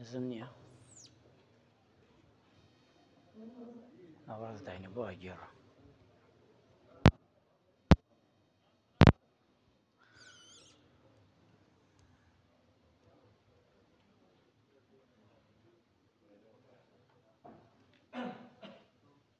نزم نییە ئاواز داینە بۆ ئەگێڕە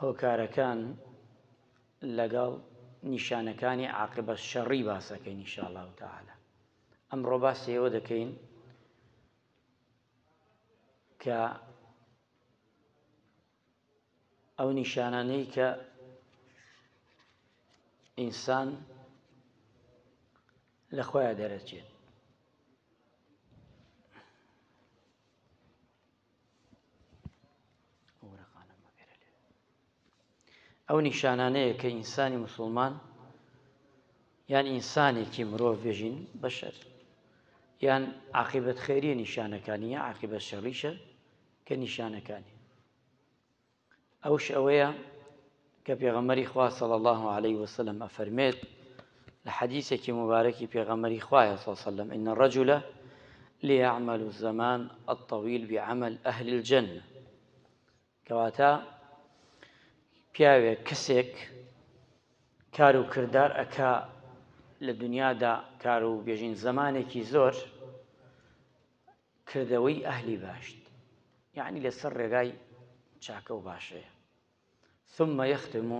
هۆکارەکان لەگەڵ نیشانەکانی عاقبە شەڕی باسەکەین انشاءاللە تعالی ئەمڕۆ باسی ئەوە دەکەین کە ئەو نیشانانەی کە ئینسان لە خۆیان دەرەچێت ئەو نیشانانەیە کە ئینسانی مسلمان یان ئینسانێکی مرۆڤ بێژین بەشەر یان عقیبەت خێریە نیشانەکانی یا عقیبە شەڕیشە کە نیشانەکانی ئەوش ئەوەیە کە پێغەمبەری خوا صلی الله علیه و سلم ئەفەرمێت لە حەدیثێکی مبارەکی پێغەمبەری خوایە صلی الله علیه و سلم ان الرجل ليعمل الزمان الطويل بعمل اهل الجنه کەواتە پیاوێک کەسێک کار و کردار ئەکا لە دنیادا کار و بێژین زمانێکی زۆر کردەوەی ئەهلی باشت یەعنی لەسەر ڕێگای چاکەو باشەیە ثم یختم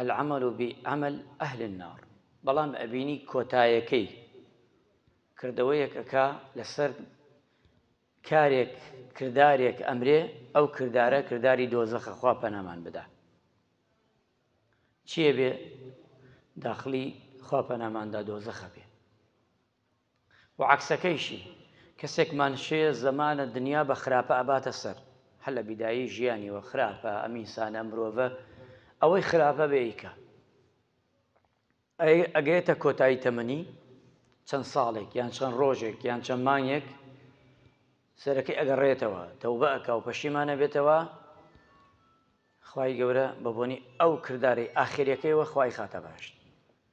العمل بعمل اهل النار بەڵام ئەبینی کۆتایەکەی کردەوەیەک ئەکا لەسەر کارێک کردارێک ئەمرێ ئەو کردارە کرداری دۆزەخە خوا پەنامان بدا چیە بێ داخلی خوا پەناماندا دۆزەخە بێ و عەکسەکەیشی کەسێکمان شێ زەمانە دنیا بە خراپە ئەباتە سەر هەر لە بیدایەی ژیانیوە خراپە ئەم ئینسانە ئەم مرۆڤە ئەوەی خراپە بێ ئیکە ئەی ئەگەێتە کۆتایی تەمەنی چەند ساڵێک یان چەند ڕۆژێک یان چەند مانگێک سەرەکەی ئەگەڕێتەوە تەوبە ئەکا و پەشیمانە بێتەوە خی گەورە بە بۆنی ئەو کردارەی ئاخریەکەیەوە خی خاتە باشت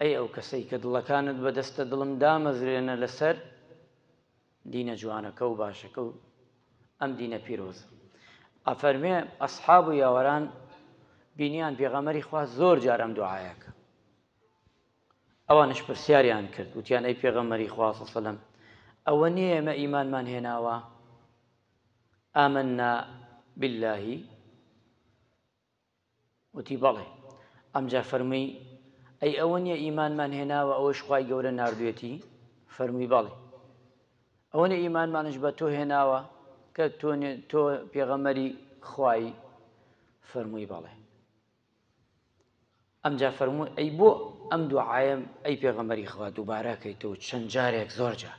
ئەی ئەو کەسەی کە دڵەکانت بەدەستە دڵم دامەزرێنە لەسەر دینە جوانەکە و باشەکە و ئەم دینە پیرۆز ئەفەرمێ ئەسحاب و یاوەران بینیان پێغەمەری خوا زۆر جار ئەم دوعاەکە ئەوانش پرسیاریان کرد وتیان ئەی پێغەمەری خواسەسەلم ئەوە نییە ئێمە ئیمانمان هێناوە ئامننا باللهی وتی، بەڵێ. ئەمجا فەرمووی، ئەی ئەوە نییە ئیمانمان هێناوە ئەوەش خوای گەورە ناردوویەتی؟ فەرمووی، بەڵێ. ئەوە نییە ئیمانمانش بە تۆ هێناوە کە تۆ پێغەمبەری خوایی؟ فەرمووی، بەڵێ. ئەمجا فەرمووی، ئەی بۆ ئەم دوعایەم ئەی پێغەمبەری خوا دووبارە ئەکەیتەوە چەند جارێک زۆر جار؟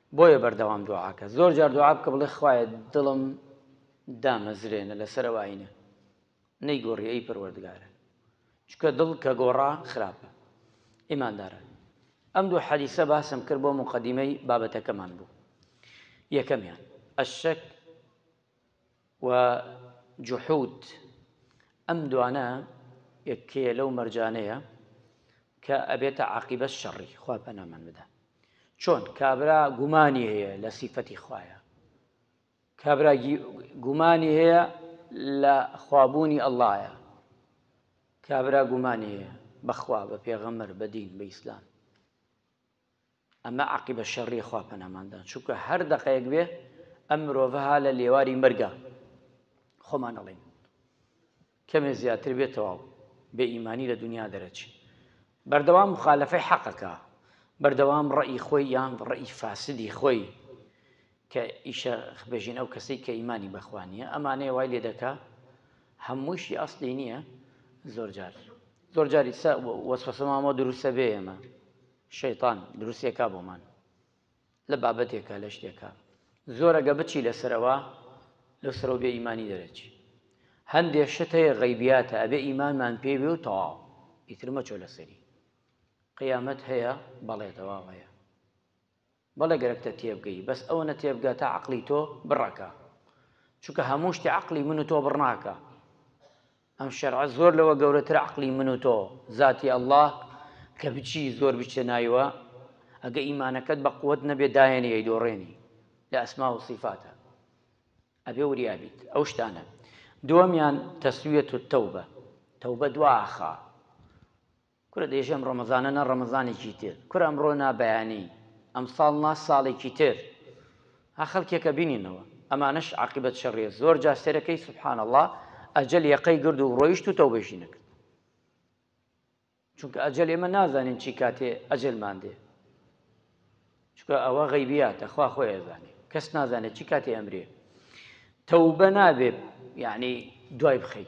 بۆیە بەردەوام دوعاکە زۆر جار دوعا بکە بڵێ خوایە دڵم دامەزرێنە لەسەر ئەو ئاینە نەیگۆڕی ئەی پەروەردگارە چکە دڵ کە گۆڕا خراپە ئیماندارە ئەم دوو حەدیسە باسم کرد بۆ مقدمەی بابەتەکەمان بوو یەکەمیان ئەشک و جحود ئەم دوانە یەکێ لەو مەرجانەیە کە ئەبێتە عاقیبەت شەڕی خوا پەنامان بدە چۆن کابرا گومانی هەیە لە سیفەتی خوایە کابرا گومانی هەیە لە خوابوونی ئەللایە کابرا گومانی هەیە بەخوا بە پێغەمەر بە دین بە ئیسلام ئەمە عاقیبە شەڕیە خوا پەنامان دان چونکە هەر دەقەیەک بێ ئەم مرۆڤە ها لە لێواری مەرگە خۆمان ئەڵێین کەمێ زیاتر بێ تەواو بێ ئیمانی لە دنیا دەرەچی بەردەوام مخالفەی حەقەکە بەردەوام ڕەئی خۆی یان ڕەئی فاسدی خۆی کە ئیشە خ بژین ئەو کەسەی کە ئیمانی بەخوا نیە ئەمانەیە وای لێ دەکا هەمووشی ئەسلی نیە زۆر جار زۆر جاری سە وەسوەسە مامۆ دروسە بێ ئێمە شەیتان دروستێکا بۆمان لە بابەتێکە لە شتێکە زۆرەگە بچی لەسەرەوە لەو سەرۆ بێ ئیمانی دەرەچی هەندێ شت هەیە غەیبیاتە ئەبێ ئیمانمان پێ بێ و تەواو ئیتر مەچۆ لەسەری قیامەت هەیە بەڵێ تەواو هەیە بەڵێ گەرەکتە تێبگەی بەس ئەوەنە تێبگە تا عەقڵی تۆ بڕەکا چونکە هەموو شتێ عەقڵی من و تۆ بڕ ناکا ئەم شەرعە زۆر لەوە گەورەترە عەقڵی من و تۆ زاتی اللە کە بچی زۆر بچتە نایوە ئەگە ئیمانەکەت بە قوت نەبێ دایەنی ئەی دۆڕێنی لە ئەسما و سیفاتە ئەبێ وریا بیت ئەو شتانە دووەمیان تەسویەت و تەوبە تەوبە دواخا کورە دەیژی ئەم ڕەمەزانە نا ڕەمەزانێکی تر کورە ئەمڕۆ نا بەیانی ئەمساڵ نا ساڵێکی تر ها خەڵکێک ئەبینینەوە ئەمانەش عاقیبەت شەڕیە زۆر جار سەیرەکەی سبحان اللە ئەجەل یەقەی گرد و ڕۆیشت و تەوبەیشی نەکرد چونکە ئەجەل ئێمە نازانین چی کاتێ ئەجەلمان دێ چونکە ئەوە غەیبیاتە خوا خۆی ئەزانێ کەس نازانێت چی کاتێ ئەمرێ تەوبە نابێت یعنی دوای بخەی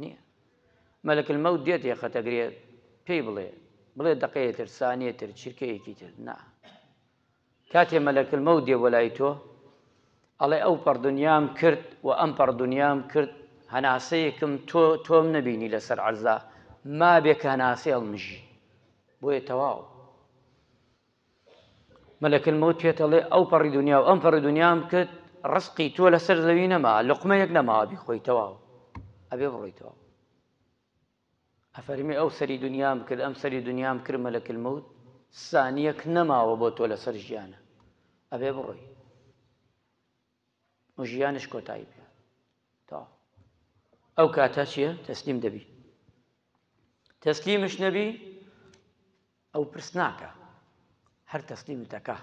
نیە مەلەک المەوت دێت یەخەتەگرێت پێی بڵێ بڵێ دەقەیە تر سانیە تر چرکەیەکی تر نا کاتێ مەلەک المەوت دێ بۆ لای تۆ ئەڵێ ئەو پەڕ دنیام کرد و ئەم پەڕ دنیام کرد هەناسەیەکم تۆ تۆم نەبینی لەسەر عەرزا ما بێکە هەناسەی هەڵمژی بۆیە تەواو ملک الموت پێت ئەڵێ ئەو پەڕی دنیا و ئەم پەڕی دنیام کرد ڕسقی تۆ لەسەر زەوی نەما لقمەیەک نەماوە بیخۆی تەواو ئەبێ بڕۆیتەوە ئەفەرمی ئەو سەری دنیام کرد ئەم سەری دنیام کرد ملک الموت سانیەک نەماوە بۆ تۆ لەسەر ژیانە ئەبێ بڕۆی و ژیانش کۆتایی پێ تا ئەو کاتە چییە تەسلیم دەبی تەسلیمش نەبی ئەو پرس ناکا هەر تەسلیمت ئەکا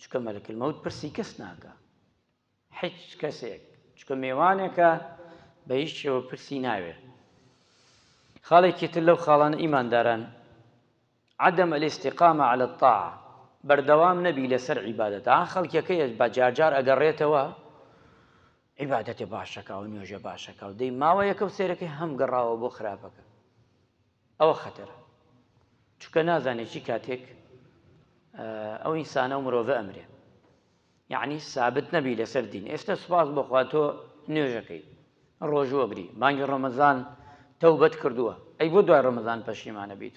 چونکە مەلەک المەوت پرسی کەس ناکا هیچ کەسێک چونکە مێوانێکە بە هیچ شێوە پرسی ناوێ خاڵێکی تر لەو خاڵانە ئیمانداران عدم الاستقامە على الطاعة بەردەوام نەبی لەسەر عیبادەت ئا خەڵکیەکەیش بە جارجار ئەگەڕێتەوە عیبادەتێ باشەکە و نوێژە باشەکە و دەی ماوە یەکە و سێرەکەی هەم گەڕاوە بۆ خراپەکە ئەوە خەتەرە چونکە نازانێ چی کاتێک ئەو ئینسانە و مرۆڤە ئەمرێ یعنی سابت نەبی لەسەر دین ئێستا سوپاس بخوا تۆ نوێژەکەی ڕۆژوەگری مانگی ڕەمەزان تەوبەت کردووە ئەی بۆ دوای ڕەمەزان پەشیمانە بیت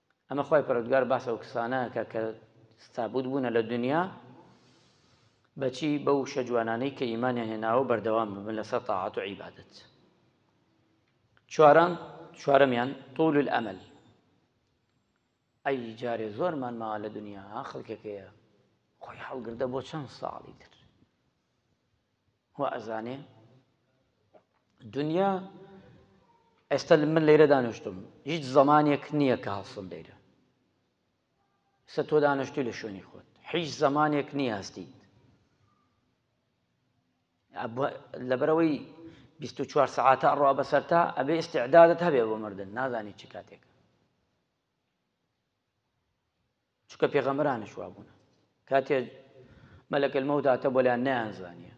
ئەمە خوای پەرۆردگار باس ئەو کسانە کە کە ستابوت بوونە لە دنیا بەچی بە وشە جوانانەی کە ئیمانیان هێناوە بەردەوام ببن لەسەر تاعات و عیبادت چواران چوارەمیان طول الأمل ئەی جارێ زۆرمان ماوە لە دنیا خەڵکەکەیە خۆی هەڵگردە بۆ چەند ساڵی تر وائەزانێ دونیا ئێستا من لەیرە دانیشتم هیچ زەمانێک نییە کە هەڵسم لەیرە سە تۆ دانیشتوی لە شوێنی خۆت هیچ زەمانێک نییە هەستیت لەبەرەوەی 24 سعاتە ئەڕوا بەسەرتا ئەبێ ئستعدادت هەبێ بۆ مردن نازانی چ کاتێک چونکە پێغەمبەرانیش وابوون کاتێ مەلەکەل مەوت هاتە بۆلیان نەیانزانیە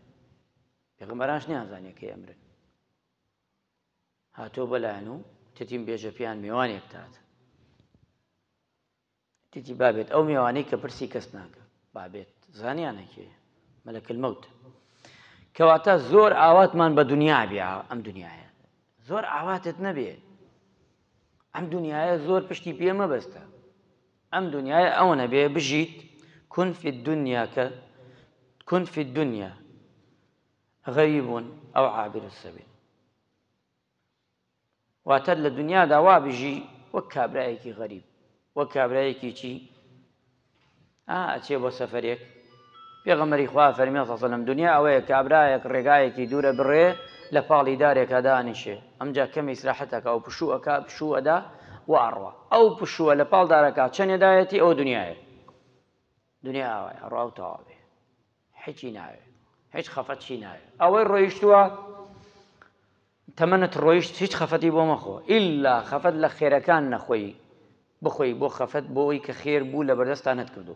پێغەمبەرانش نیانزانیە کە ئەمرن هاتۆ بەلایەن و تتیم بێژە پێیان میوانێک تات تیتی بابێت ئەو میوانەی کە پرسی کەس ناکە بابێت زانیانەکێ مەلەکەل مەوت کەواتە زۆر ئاواتمان بە دنیا بیا ئەم دنیاە زۆر ئاواتت نەبێت ئەم دونیایە زۆر پشتی پێ مەبەستە ئەم دونیایە ئەوە نەبێ بژیت کون فی الدنیا کە کون فی الدنیا غریب ئەو عابر السبیل واتە لە دنیادا وا بژی وەک کابرایەکی غەریب وەک کابرایەکی چی ئا ئەچێ بۆ سەفەرێک پێغەمبەری خوا فەرمی صلی اللە علیە و سلم دنیا ئەوەیە کابرایەک ڕێگایەکی دوورە بڕێ لە پاڵی دارێکا دانیشێ ئەمجا کەمێ ئیسراحەت ئەکا و پشوو ئەکا پشوو ئەدا و ئەڕوا ئەو پشووە لە پاڵ دارەکە چەنێ دایەتی ئەوە دنیایە دنیا ئاوایە ڕاو تەواوێ حیچی ناوێ هیچ خەفەت چی ناوێ ئەوەی ڕۆیشتووە تەمەنت ڕۆیشت هیچ خەفەتی بۆ مەخۆ ئیلا خەفەت لە خێرەکان نەخۆی بخۆی بۆ خەفەت بۆی کە خێر بوو لە بەردەستا نەتکردو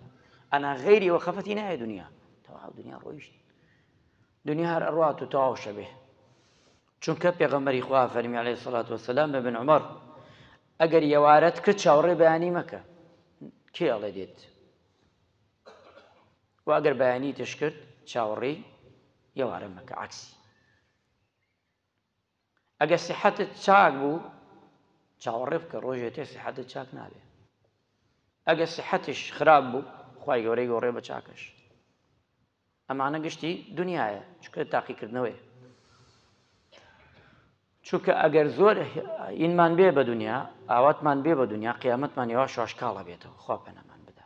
ئەنا غەیری ئەوە خەفەتی نایە دنیا تەواو دنیا ڕۆیشت دنیا هەر ئەڕات و تەواو شەبێ چونکە پێغەمەری خوا فەرمی عليه سڵات وسلام بە بن عمر ئەگەر یەوارەت کرد چاوەڕێ بەیانی مەکە کێڵێ دێت وە ئەگەر بەیانی تش کرد چاوەڕێی یەوارە مەکە عەکسی ئەگەر سیحەتت چاک بوو چاوەڕێ بکە ڕۆژێ تێ سیحەتت چاک نابێ ئەگە سیحەتش خراپ بوو خی گەورەی گۆڕێ بە چاکەش ئەمانە گشتی دنیاە چکە تاقیکردنەوەی چونکە ئەگەر زۆر ئینمان بێ بە دنیا ئاواتمان بێ بە دنیا قیامەتمان یوا شاشکاڵە بێتەوە خوا پەنەمان بدا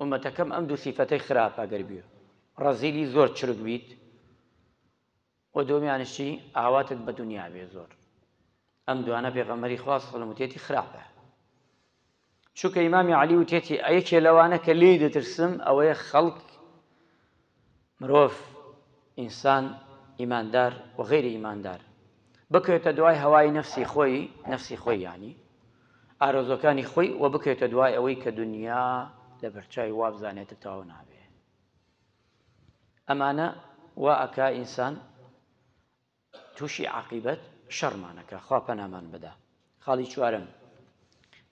ئۆمەتەکەم ئەم دوو سیفەتەی خراپە گەر بی ڕەزیلی زۆر چرک بیت وە دۆمیانشی ئاواتت بە دنیا بێ زۆر ئەم دوانە پێغەمەری خواست خڵموتێتی خراپە چووکە ئیمامی علی وتێتی ئەیەکێ لەوانە کە لێی دەترسم ئەوەیە خەڵک مرۆڤ، ئینسان، ئیماندار و غەیری ئیماندار، بکەوێتە دوای هەوای نەفسی خۆی، نەفسی خۆی یانی، ئارەزووەکانی خۆی و بکەوێتە دوای ئەوەی کە دونیا لە بەرچاوی وا بزانێت تەواو نابێ. ئەمانە وا ئەکا ئینسان. توشی عاقیبەت شەڕمان ئەکا خوا پەنامان بدا خاڵی چوارەم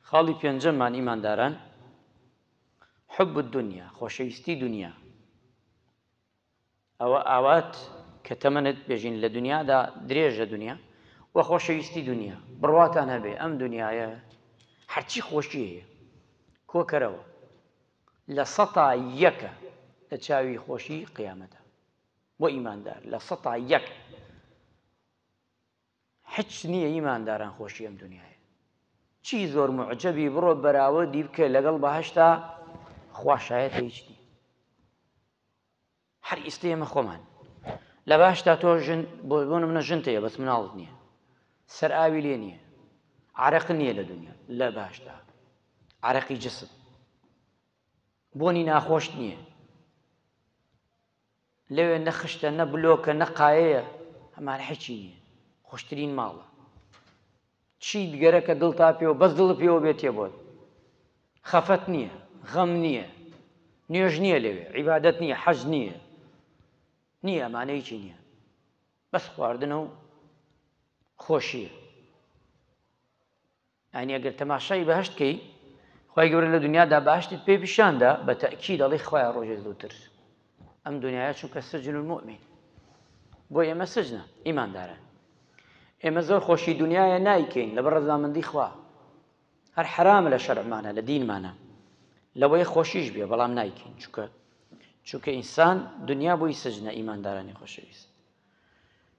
خاڵی پێنجەممان ئیمانداران حب الدنیا خۆشەویستی دنیا ئەوە ئاوات کە تەمەنت بێژین لە دنیادا درێژە دنیا و خۆشەویستی دنیا بڕواتان هەبێ ئەم دنیاە هەرچی خۆشی هەیە کۆکەرەوە لە سەتا یەکە لە چاوی خۆشی قیامەتە بۆ ئیماندار لە سەتا یەک حچ نییە ئیمانداران خۆشی ئەم دنیاە چی زۆر معجببی بڕۆ بەراوە دی بکە لەگەڵ بەهشتا خواشایەت هیچ نیە هەر ئیستی ئێمە خۆمان لە باشتا تۆ ژن بۆ بۆ منە ژن تەیە بەس مناڵت نییە سەر ئاوی لێ نییە عرق نییە لە دنیا لە باشدا عرەقی جسم بۆنی ناخۆش نییە لەوێ نە خشتە نە بلۆکە نە قایەیە هەمان حیچی نیە خۆشترین ماڵە چیت گەرەکە دڵ تا پێوە بەس دڵ پێوە بێ تێ بۆت خەفەت نییە غەم نییە نوێژ نییە لەوێ عیبادەت نییە حەز نییە نییە ئەمانەیەکی نییە بەس خواردنە و خۆشیە یانی ئەگەر تەماشای بەهەشت کەی خوای گەورە لە دنیادا باشتت پێ پیشاندا بە تەکی دەڵی خوای ڕۆژێ زووتر ئەم دنیاە چونکە سجن المؤمن بۆ ئێمە سجنە ئیماندارە ئێمە زۆر خۆشی دنیاە نایکەین لە بەڕزامەندی خوا هەر حرامە لە شەرمانە لە دینمانە لەوەی خۆشیش بێ بەڵام نایکەین چووکە چونکە ئینسان دنیا بۆی سجنە ئیماندارانی خۆشەویست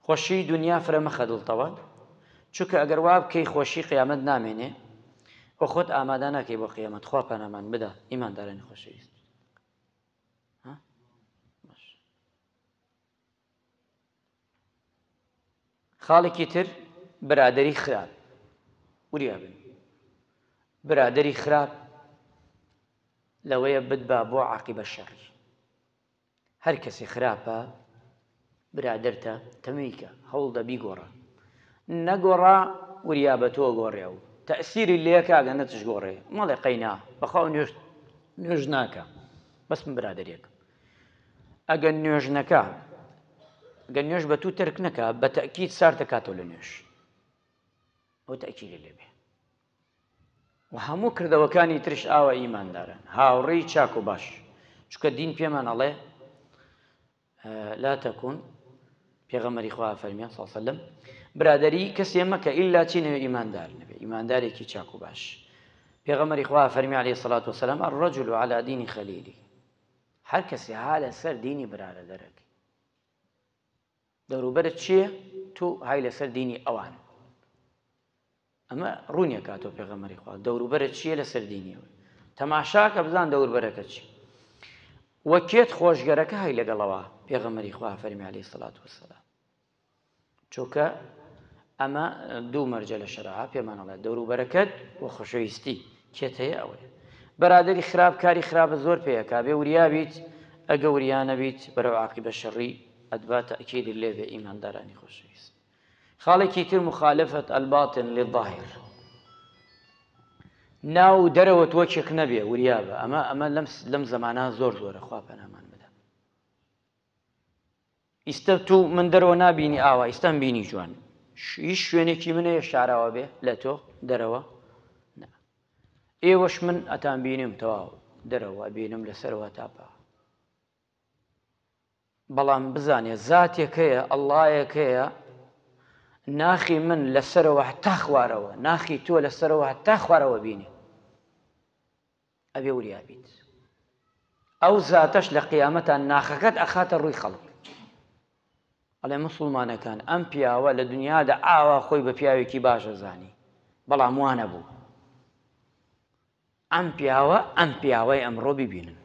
خۆشی دونیا فرە مەخە دڵتەوە چونکە ئەگەر وابکەی خۆشی قیامەت نامێنێ و خۆت ئامادا ناکەی بۆ قیامەت خوا پەنامان بدا ئیمان دارێن خۆشەویست خاڵێکی تر برادری خراپ وریا بن برادری خراپ لەوەیە بدبا بۆ عقیبە شەڕی هەر کەسێ خراپە برادەرتە تەمویکە هەوڵدە بیگۆڕە نەگۆڕا وریا بە تۆ گۆڕێ و تەئسیری لێکا گە نە تشگۆڕێ مەڵێ قەینا بەخوا نوێژ نوێژ ناکە بەس من برادەرێکم ئەگە نوێژ نەکا گە نوێژ بە تو تەرک نەکا بە تەئکید سارتە کاتەوە لە نوێژ ئەو تەئکیری لێ بێ و هەموو کردەوەکانی ترش ئاوا ئیمانداران هاوڕێی چاک و باش چونکە دین پێمان ئەڵێ لا تەکون پێغەمەری خوا فەرمیان ساسەلم برادری کەسێ مەکە ئللا چی نەوێ ئیماندار نەبێ ئیماندارێکی چاک و باش پێغەمەری خوا فەرمی عليه سلات وسلام الرجل و على دینی خەلیلی هەر کەسێ ها لەسەر دینی برارە دەرەکە دەوروبەرت چیە تۆ های لەسەر دینی ئەوان ئەمە ڕونی ئەکات تۆ پێغەمەری خوا دەوروبەرت چیە لەسەر دینی ئەوان تەماشاکە بزان دەوربەرەکە چی وە کێت خۆشگەرەکە هەی لەگەڵەوە پێغەمەری خوا فەرمی عليه سلات وسلام چۆکە ئەمە دوو مەرجە لە شەرعا پێمانەڵێ دەوروبەرەکەت و خۆشەویستی کێت هەیە ئەوەیە بەرادری خراپ کاری خراپە زۆر پێەکە بێ وریابیت ئەگە وریانەبیت بەرەو عقی بە شەڕی ئەتبا تەئکیدی لێ بێ ئیماندارانی خۆشەویست خاڵێکی تر مخالفت الباطن للظاهر ناو و دەرەوە تۆ چێک نەبێ وریابە ئەمە ئەمە لەم لەم زمانە زۆر زۆرە خوا پەنامان بدە ئیستا تو من دەرەوە نبینی ئاوا ئیستان بینی جوان هیچ شوێنێکی منە یە شاراوە بێ لە تۆ دەرەوە ئێوەش من ئەتان بینم تەواو دەرەوە بینم لەسەرەوە تاپا بەڵام بزانێ زاتێک هەیە، ئەڵڵایەک هەیە، ناخی من لە سەرەوە هەتا خوارەوە، ناخی تۆ لە سەرەوە هەتا خوارەوە بینێ. ئەبێ وریا بیت. ئەو زاتەش لە قیامەتا ناخەکەت ئەخاتە ڕووی خەڵک. ئەڵێ موسڵمانەکان ئەم پیاوە لە دنیادا ئاوا خۆی بە پیاوێکی باش ئەزانی، بەڵام وا نەبوو. ئەم پیاوە ئەم پیاوەی ئەمڕۆ بیبینن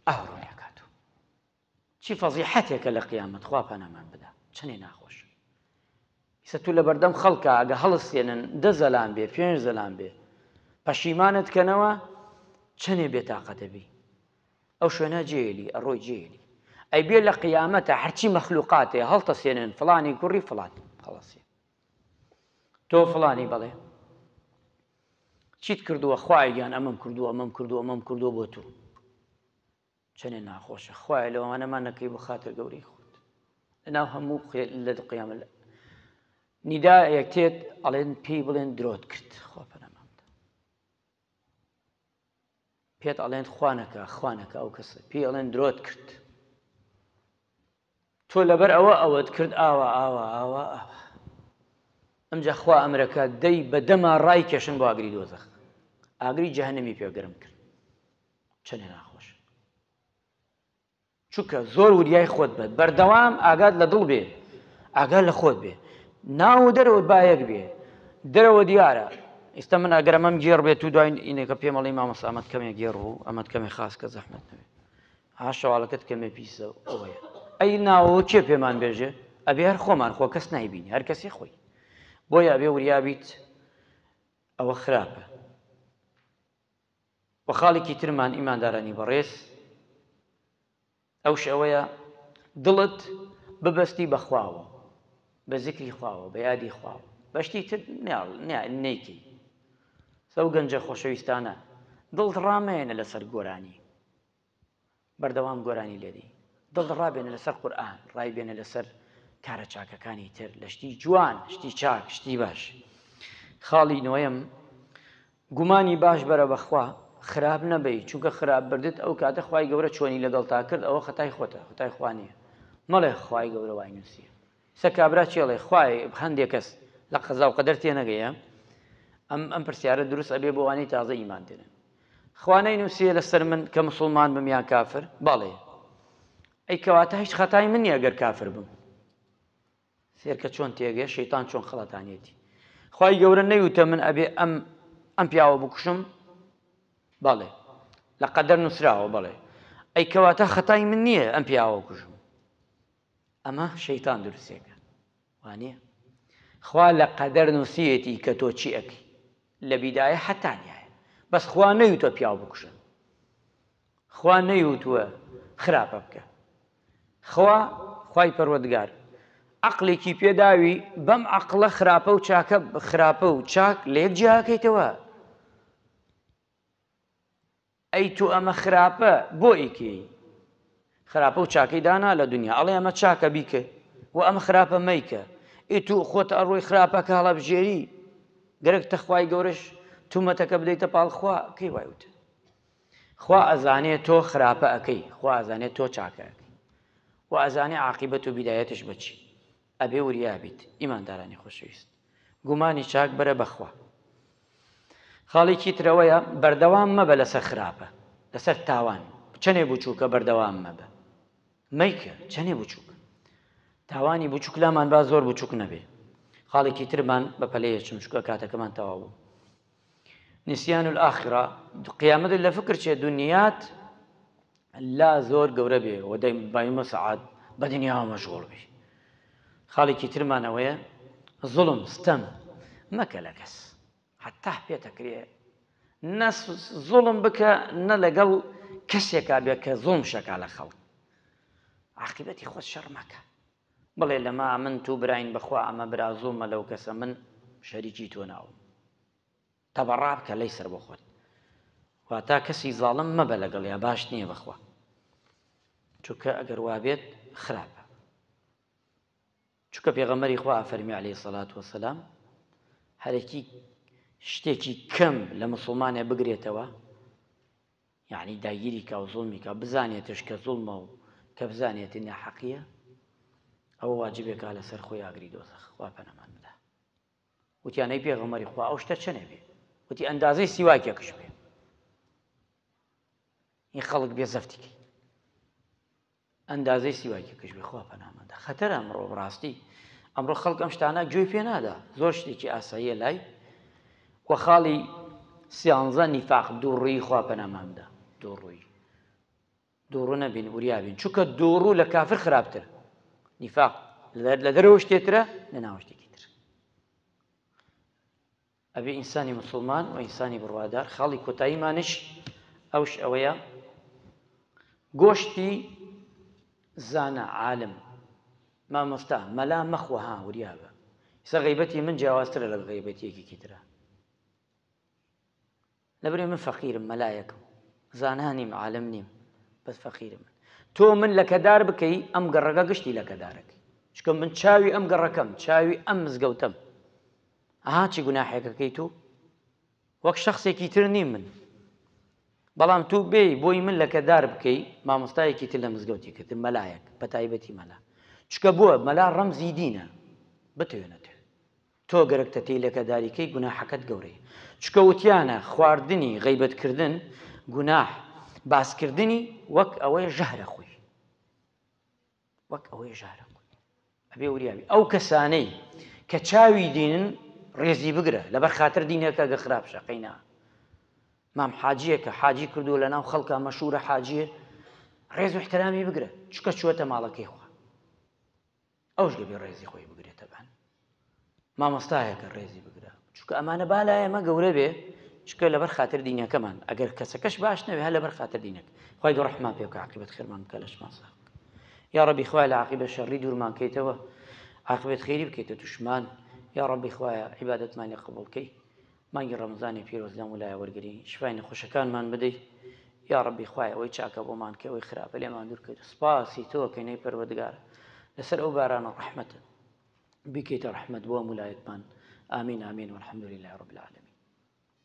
ئاه ڕۆی ئەکات و چی فەزیحەتێکە لە قیامەت خوا پەنامان بدا چەنێ ناخۆش ئیسە تو لە بەردەم خەڵکە ئەگە هەڵستێنن دە زەلام بێ پێنج زەلام بێ پەشیمانت کەنەوە چەنێ بێتاقەتەبی ئەو شوێنە جێلی ئەڕۆی جێلی ئەی بێ لە قیامەتە هەرچی مەخلوقاتێ هەڵتە سێنن فلانی کوڕی فلان هەڵەسێ تۆ فلانی بڵێ چیت کردووە خوایە گیان ئەمەم کردووە ئەمەم کردووە ئەمەم کردووە بۆ تۆ چەنێ ناخۆشە خوایە لەوانەمان نەکەی بۆ خاتر گەورەی خۆت لەناو هەموو لە دقیامە لە نیدا یەکتێت ئەڵێن پێی بڵێن درۆت کرد خۆپەنەما پێت ئەڵێن خوا نەکا خوا نەکا ئەو کەسە پێی ئەڵێن درۆت کرد تۆ لەبەر ئەوە ئەوەت کرد ئاوا ئاوا ئاوا ئاوا ئەمجا خوا ئەمرەکە دەی بە دەما ڕای کێشن بۆ ئاگری دۆزەخ ئاگری جەهنمی پێگەرم کرد چەنێ ناخۆش چونکە زۆر وریای خۆت بە بەردەوام ئاگات لە دڵ بێ ئاگات لە خۆت بێ ناو و دەرەوەت با یەک بێ دەرەوە دیارە ئیستا من ئەگەر ئەمەم گێڕ بێت و دوای ئینێکە پێم ئەڵی مامۆستا ئەمەت کەمێ گێڕ بوو ئەمەت کەمێ خاس کە زەحمەت نەبێ ها شەواڵەکەت کەمێ پیسە ئەوەیە ئەی ناوەوە کێ پێمان بێژێ ئەبێ هەر خۆمان خۆ کەس نایبینی هەر کەسی خۆی بۆیە ئەبێ وریابیت ئەوە خراپە وە خاڵیکی ترمان ئیماندارانی بەڕێز ئەوش ئەوەیە دڵت ببەستی بە خواوە بە زیکری خواوە بە یادی خواوە بەشتی تر نەیکەی سەو گەنجە خۆشەویستانە دڵت ڕامەیەنە لەسەر گۆرانی بەردەوام گۆرانی لێدەی دڵ ڕابێنە لەسەر قورئان ڕایبێنە لەسەر کارە چاکەکانی تر لە شتی جوان شتی چاک شتی باش خاڵی نۆیەم گومانی باش بەرە بەخوا خراپ نەبی چونکە خراپ بردت ئەو کاتە خی گەورە چۆنی لەگەڵ تا کرد ئەوە خەتای خۆتە خەتای خوانیە مەڵێ خی گەورە وای نووسیە سە کابرا چێڵێ خوای هەندێک کەس لە قەزا و قەدەر تێنەگەیە ئەم ئەم پرسیارە دروست ئەبێ بۆوانەی تازە ئیمان دێنن خوا نەینوسیە لەسەر من کە موسڵمان بم یان کافر بەڵێ ئەی کەواتە هیچ خەتای من نیە گەر کافر بم سێرکە چۆن تێگەێ شەیتان چۆن خڵەتانێتی خی گەورە نەیوتە من ئەبێ ئەم ئەم پیاوە بکوشم بەڵێ لە قەدەر نووسراوە بڵێ ئەی کەواتە خەتای من نییە ئەم پیاوە کوژم ئەمە شەیتان دروستێکە وانیە خوا لە قەدەر نووسیەتی کە تۆ چی ئەکی لە بیدایە حەتانایە بەس خوا نەیوتە پیاو بکوژن خوا نەیوتووە خراپە بکە خوا خی پەروەگار عقلێکی پێداوی بەم عقلە خراپە و چاکە خراپە و چاک لە یەک جیاکەیتەوە ئەی تۆ ئەمە خراپە بۆ ئیکەیی خراپە و چاکەی دانا لە دونیا ئەڵێ ئەمە چاکە بیکە و ئەمە خراپە مەیکە ئی تو خۆت ئەڕۆی خراپەکە هەڵەبژێری گەرەک تە خوای گەورەش تومەتەکە بدەیتە پاڵ خوا کەی وای وتە خوا ئەزانێ تۆ خراپە ئەکەی خوا ئەزانێ تۆ چاکە ئەکەی و ئەزانێ عاقیبەت و بیدایەتش بەچی ئەبێ وریا بیت ئیماندارانی خۆشەویست گومانی چاک بەرە بەخوا. خاڵێکی ترەوەیە بەردەوام مەبە لەسەر خراپە لەسەر تاوان چەنێ بچووکە بەردەوام مەبە مەیکە چەنێ بچووکە تاوانی بچووک لامان با زۆر بچووک نەبێ خاڵێکی ترمان بە پەلەیە چمشکە کاتەکەمان تەواو بوو نسیان الاخرە قیامەتت لە فکر چێ دنیات لا زۆر گەورە بێ و دەی بایمە سەعات بە دنیاوە مەشغوڵ بی خاڵێکی ترمانەوەیە زڵم ستەم مەکە لە کەس حتا پێتەکرێ نە زڵم بکە نە لەگەڵ کەسێکا بێ کە زڵم شەکا لە خەڵک عقیبەتی خۆت شەڕ مەکە بڵێ لەمە من تو براین بەخوا ئەمە برا زوڵمە لەو کەسە من شەریکی تۆ نابم تەبەڕا بکە لەی سەر بۆ خۆت واتا کەسی زاڵم مەبە لەگەڵ یا باش نییە بەخوا چونکە ئەگەر وابێت خراپە چونکە پێغەمەری خوا فەرمی عليه سەلات وسلام هەرێکی شتێکی کەم لە مسلمانێ بگرێتەوە یەعنی داگیری کا و زوڵمی کا بزانێتش کە زوڵمە و کە بزانێت ناحەقیە ئەوە واجبێ کا لە سەر خۆی ئاگری دۆزەخ خوا پەنامان بدا وتیان ئەی پێغەمبەری خوا ئەو شتە چەنێ بێ وتی ئەندازەی سیواکێکش بێ ی خەڵک بێ زەفتی کەی ئەندازەی سیواکی پشوی خوا پەنامەدا خەتەرە ئەمڕۆ بڕاستی ئەمڕۆ خەڵک ئەم شتانە گوێی پێ نادا زۆر شتێکی ئاساییە لای وە خاڵی سیانزە نیفاق دووڕووی خوا پەنامامدا دووڕووی دووڕوو نەبین وریابین چونکە دووڕوو لە کافر خراپتر نیفاق لە دەرەوە شتێترە لە ناوە شتێکی تر ئەبێ ئینسانی موسڵمان وئینسانی بڕوادار خاڵی کۆتاییمانش ئەوش ئەوەیە گۆشتی زانا عالم مامۆستا مەلا مەخۆ ها وریابە ئیسە غەیبەتی من جیاوازترە لەگەڵ غەیبەتی یەکێکی ترە. لەبری من فەقیرم مەلایەکم زانا نیم عالم نیم بەس فەقیرم من تۆ من لەکەدار بکەی ئەم گەڕەکە گشتی لەکەدارەکەی چکە من چاوی ئەم گەڕەکەم چاوی ئەم مزگەوتەم ئەها چی گوناحێکەکەی تو وەک شخصێکی تر نیم من بەڵام تو بێ بۆی من لەکەدار بکەی مامۆستایەکی تر لە مزگەوتی کردن مەلایەک بە تایبەتی مەلا چکە بووە مەلا ڕەمزی دینە بتوێنە توێ تۆ گەرەک تەتەی لەکە داری کەی گوناحەکەت گەورەیە چکە وتیانە خواردنی غەیبەت کردن گوناح باس کردنی وەک ئەوەی ژەهرە خوی وەک ئەوەی ژارە ئەبێ وریاوی ئەو کەسانەی کە چاوی دینن ڕێزی بگرە لەبەر خاتر دینەکە گە خراپ شەقینا مام حاجیەکە حاجی کردو لە ناو خەڵکە مەشورە حاجیە ڕێز و احترامی بگرە چکە چوەتە ماڵەکەی خوا ئەوش دەبێ ڕێزی خۆی بگرێت تەبان مامۆستایەکە ڕێزی بگرە چکە ئەمانە با لای ئەمە گەورە بێ چکە لەبەر خاطر دینەکەمان ئەگەر کەسەکەش باش نەوێ هە لەبەر خاطر دینەک خی گە ڕحمان پێ بکە عقیبەت خێرمان بکە لەشمان سا یا ڕبی خوای لە عقیبە شەڕی دوورمان کەیتەوە عقبێت خێری بکەیتە توشمان یا ڕبی خوایە عیباەتمانی قبولکەی مانگی ڕەمەزانی پیرۆز لەم ولایە وەرگری شیفای نەخۆشەکانمان بدەی یاڕەبی خوایە ئەوەی چاکە بۆمان کەی ئەوەی خراپە لێمان دوور کەیتە سوپاسی تۆ کەین ئەی پەروەردگار لەسەر ئەو بارانە ڕەحمەتت بیکەیتە ڕەحمەت بۆ هەموو لایەکمان ئامین ئامین والحمدللە رب العالمین